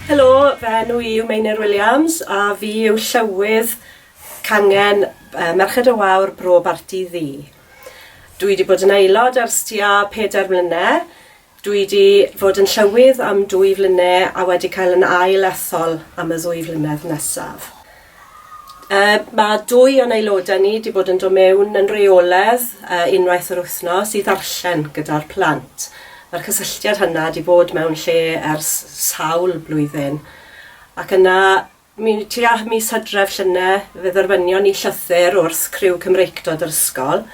Helo, fy enw i yw Meinir Williams a fi yw Llywydd Cangen Merched y Wawr Bro Barti Ddu. Dwi wedi bod yn aelod ers tua pedair mlyne', dwi wedi fod yn Llywydd am dwy flyne' a wedi cael yn ail ethol am y ddwy flynedd nesaf. Yy ma' dwy o'n aelodau ni 'di bod yn do' mewn yn reoledd yy unwaith yr wythnos i ddarllen gyda'r plant. Ma'r cysylltiad hynna 'di bod mewn lle ers sawl blwyddyn. Ac yna mi tua mis Hydref llyne fe dderfynion ni llythyr wrth criw Cymreictod yr ysgol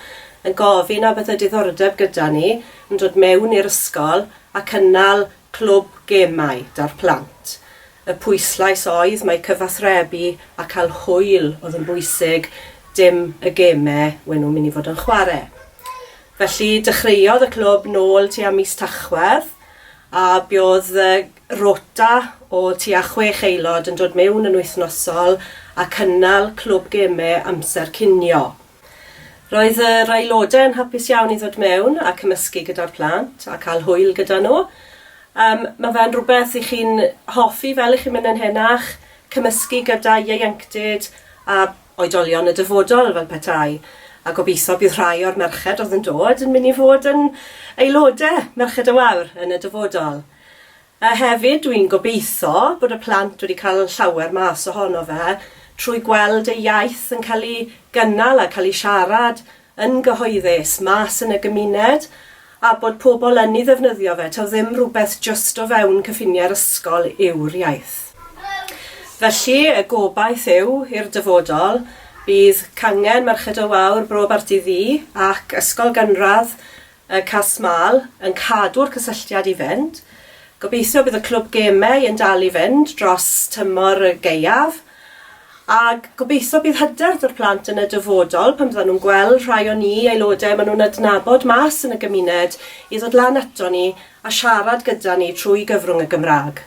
yn gofyn a bydd y diddordeb gyda ni yn dod mewn i'r ysgol a cynnal Clwb Gemau 'da'r plant. Y pwyslais oedd mai cyfathrebu a cael hwyl oedd yn bwysig, dim y geme we' nhw'n mynd i fod yn chware'. Felly dechreuodd y clwb nôl tua mis Tachwedd a buodd y rota o tua chwech aelod yn dod mewn yn wythnosol a cynnal clwb geme amser cinio. Roedd yr aelodau yn hapus iawn i ddod mewn a cymysgu gyda'r plant a cael hwyl gyda nhw. Um, mae fe'n rhywbeth i chi'n hoffi fel i chi'n mynd yn henach, cymysgu gyda ieuenctid a oedolion y dyfodol fel petai. A gobeithio bydd rhai o'r merched oedd yn dod yn mynd i fod yn aelodau, Merched y Wawr, yn y dyfodol. A hefyd dwi'n gobeitho bod y plant wedi cael llawer mas ohono fe trwy gweld eu iaith yn cael ei gynnal a cael ei siarad yn gyhoeddus mas yn y gymuned a bod pobl yn ei ddefnyddio fe, taw ddim rhywbeth jyst o fewn cyffiniau'r ysgol yw'r iaith. Felly, y gobaith yw, i'r dyfodol, bydd cangen Merched y Wawr, Bro Barti Ddu ac Ysgol Gynradd Y Cas Mâl yn cadw'r cysylltiad i fynd. Gobeithio bydd y clwb gemau yn dal i fynd dros tymor y gaeaf. A gobeithio bydd hyder 'da'r plant yn y dyfodol pan fyddan nhw'n gweld rhai o ni, aelodau maen nhw'n adnabod mas yn y gymuned, i ddod lan ato ni a siarad gyda ni trwy gyfrwng y Gymraeg.